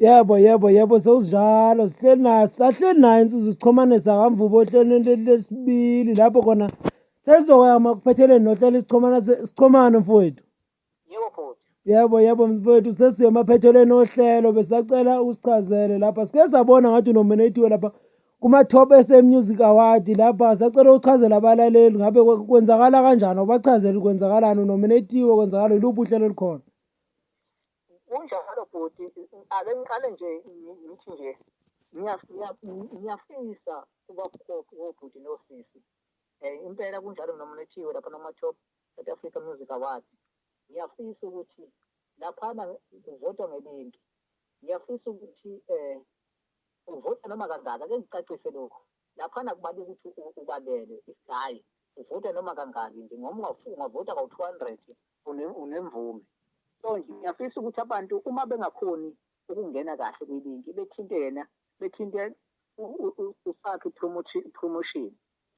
yebo yebo yebo sewusinjalo sihleli nayo sahleli nayo insuzu sichomane sakamvubo ohlelweni lesibili lapho khona sezoyama kuphetheleni nohlelo isichomana sichomane mfowethu yebo futhi yebo yebo mfowethu sesiye emaphethelweni ohlelo besacela usichazele lapha sike sabona ngathi unominatiwe lapha kuma-top sa music award lapha sacela uchazela abalaleli ngabe kwenzakala kanjani ubachazele kwenzakalani unominatiwe kwenzakala iluphi uhlelo olukhona kunjalo bhuti ake ngiqale nje ngithi nje ngiyafisa kuba bukhofi wobhuti nosisi um impela kunjalo nomlethiwe lapha noma-top south africa music award ngiyafisa ukuthi laphana kuvotwa ngebintu ngiyafisa ukuthi um uvota noma kangaka ke ngicacise lokhu laphana kubali ukuthi ubalele isihayi uvota noma kangaki nje ngoma ungavota kawu-two hundred unemvume so nje ngiyafisa ukuthi abantu uma bengakhoni ukungena kahle kwilinki bethinte yena bethinte usakhe promotion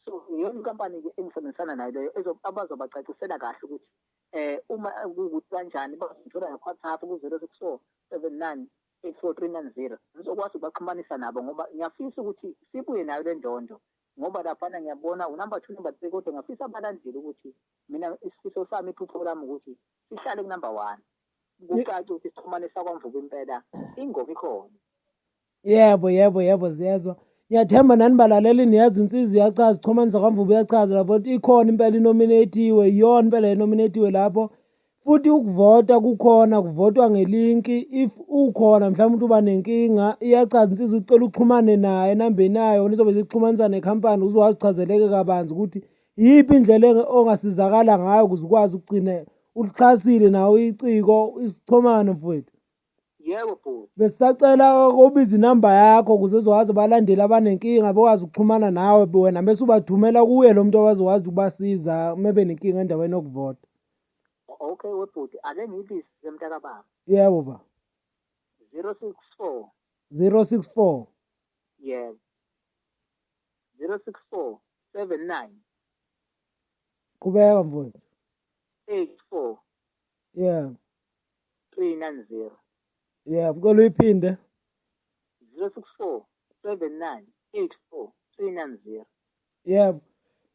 so iyona inkampani-ke engisebenzisana nayo leyo abazobacacisela kahle ukuthi eh uma kukuthi kanjani bazithola ngewhatsapp ku-zero six four seven nine eight four three nine zero ngizokwazi ukubaxhumanisa nabo ngoba ngiyafisa ukuthi sibuye nayo le ndondo ngoba laphana ngiyabona unumber two number three kodwa ngiyafisa abalandeli ukuthi mina isifiso sami iphupho lami ukuthi sihlale kunumber one kucaca ukuthi sixhumane sakwamvuka impela ingoma ikhona yebo yebo yebo ziyezwa ngiyathemba nani balaleli niyazi unsizi uyachaza uxhumanisa kwamvuba uyachaza lapho ikhona impela inominatiwe iyona impela enominatiwe lapho futhi ukuvota kukhona kuvotwa ngelinki if ukhona mhlawumbe umuntu uba nenkinga iyachaza insizwa ucela uxhumane naye enambeni yayo nizobe zixhumanisa nekhampani ukuze wazi chazeleke kabanzi ukuthi iyiphi indlela ongasizakala ngayo ukuze ukwazi ukugcina ulixhasile nawo iciko isixhomane mfowethu yebo bhuti besisacela ukubiza inamba yakho ukuze uzokwazi ubalandeli abanenkinga bekwazi ukuxhumana nawe wena bese ubathumela kuye lo muntu owazokwazi ukubasiza uma benenkinga endaweni yokuvota okay webhuti ake ngiyibise semntakababa yebo ba zero six four zero six four yebo zero six four seven nine qhubeka mfowethu eight four yeah 390 yeah mkolo uyiphinde 064 79 84 390 yeah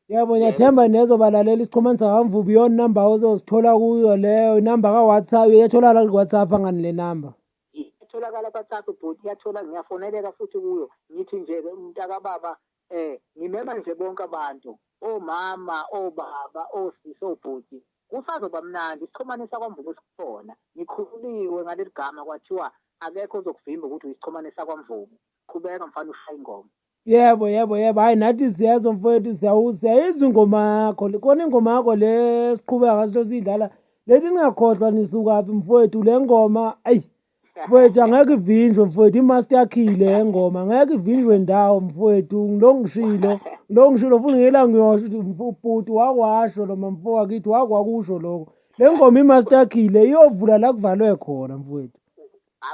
yebo ngiyathemba nezobalalela isixhumanisa kamvubu iyona number ozozithola kuyo leyo inumber ka-whatsapp iyatholakala ku-whatsapp angani le number itholakala kwaThathu bhuti yathola ngiyafoneleka futhi kuyo ngithi nje-ke umntakababa um ngimema nje bonke abantu omama obaba osisi obhuti kusazoba mnandi isixhumane sakwamvubu sikhona ngikhululiwe ngaleli gama kwathiwa akekho ozokuvimba ukuthi uyisixhumane sakwamvubu qhubeka mfana ushaya ingoma yebo yebo yebo hayi nathi ziyazo mfowethu siyayizwa ingoma yakho khona ingoma yakho le siqhubeka ngaso siyidlala lethi ningakhohlwa nisukaphi mfowethu le ngoma ayi Mfowethu angeke ivinjwe mfowethu imaster yakhile engoma angeke ivinjwe ndawo mfowethu ngilongishilo ngilongishilo futhi ngela ngiyosho mfuputi wakwasho lo mamfo wakithi wakwakusho lokho le ngoma imaster yakhile iyovula la kuvalwe khona mfowethu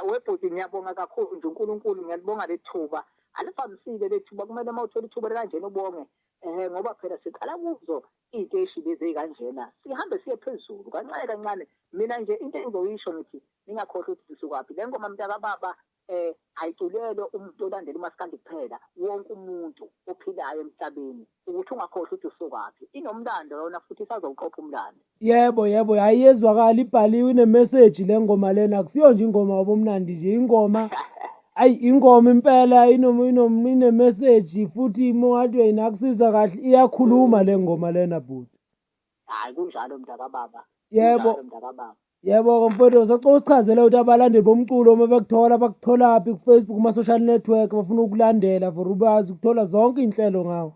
webhuti ngiyabonga kakhulu nje uNkulunkulu ngiyalibonga lethuba alifambisile lethuba kumele uma uthola ithuba likanjena ubonge um ngoba phela siqala kuzo iy'teshi lezi ey'kanjena sihambe siye phezulu kancane kancane mina nje into engizoyisho ngithi ningakhohlwa ukuthi sisukwaphi le ngoma mntakababa um ayiculelwe umuntu olandela umasikandi kuphela wonke umuntu ophilayo emhlabeni ukuthi ungakhohlwa ukuthi usukwaphi inomlando yona futhi isazowuqopha umlando yebo yebo hhayi yezwakala ibhaliwe inemeseji le ngoma lena akusiyo nje ingoma wabomnandi nje ingoma ayi ingoma impela inemeseji futhi mongathi uyinakusiza kahle iyakhuluma le ngoma lena bhuti hayi kunjalo mntakababa yebo yebo komfowethu sacela usichazele ukuthi abalandeli bomculo uma bekuthola bakutholaphi kufacebook kuma-social network bafuna ukulandela for ubazi ukuthola zonke iy'nhlelo ngawo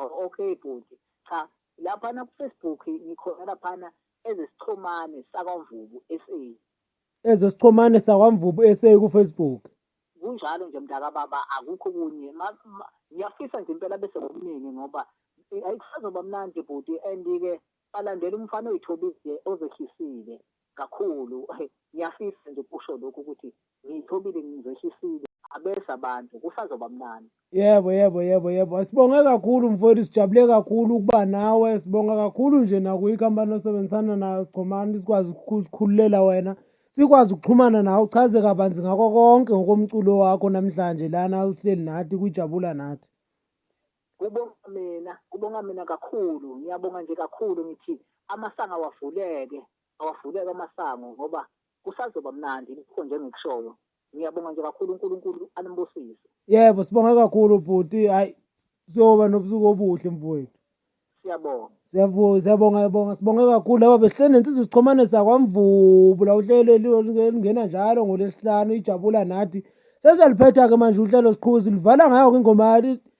oh, okay bhuti cha laphana kufacebook ngikhona laphana ezesixhumane sakwamvubu sa ezesichomane sakwaMvubu SA kuFacebook. Kunjalo nje mntakababa akukho kunye ngiyafisa nje impela bese ngokuningi ngoba ayikusazoba mnandi bhuti and-ke balandela umfana oyithobile ozehlisile kakhulu ngiyafisa nje kusho lokhu ukuthi ngiyithobile ngizehlisile abese abantu kusazoba mnandi Yebo, yebo, yebo, yebo. Sibonge kakhulu mfowethu, sijabule kakhulu ukuba nawe. Sibonga kakhulu nje nakuyo ikhampani osebenzisana nayo Sigcomani sikwazi ukukhululela wena. Sikwazi ukuxhumana nawe uchaze kabanzi ngako konke ngokomculo wakho namhlanje lana uhleli nathi kujabula nathi. Kubonga mina, kubonga mina kakhulu. Ngiyabonga nje kakhulu ngithi amasango awavuleke, awavuleke amasango ngoba kusazoba mnandi lokho njengikushoyo. Ngiyabonga nje kakhulu uNkulunkulu animbusise. Yebo sibonga kakhulu bhuti hayi siyoba nobusuku obuhle mfowethu. Siyabonga. Siyabonga siyabonga yabonga sibonga kakhulu laba besihleli nensizwa isixhomane sakwamvubu la uhlelo elingena njalo ngolesihlanu ijabula nathi seseliphetha-ke manje uhlelo siqhuba silivala ngayo-ke ingoma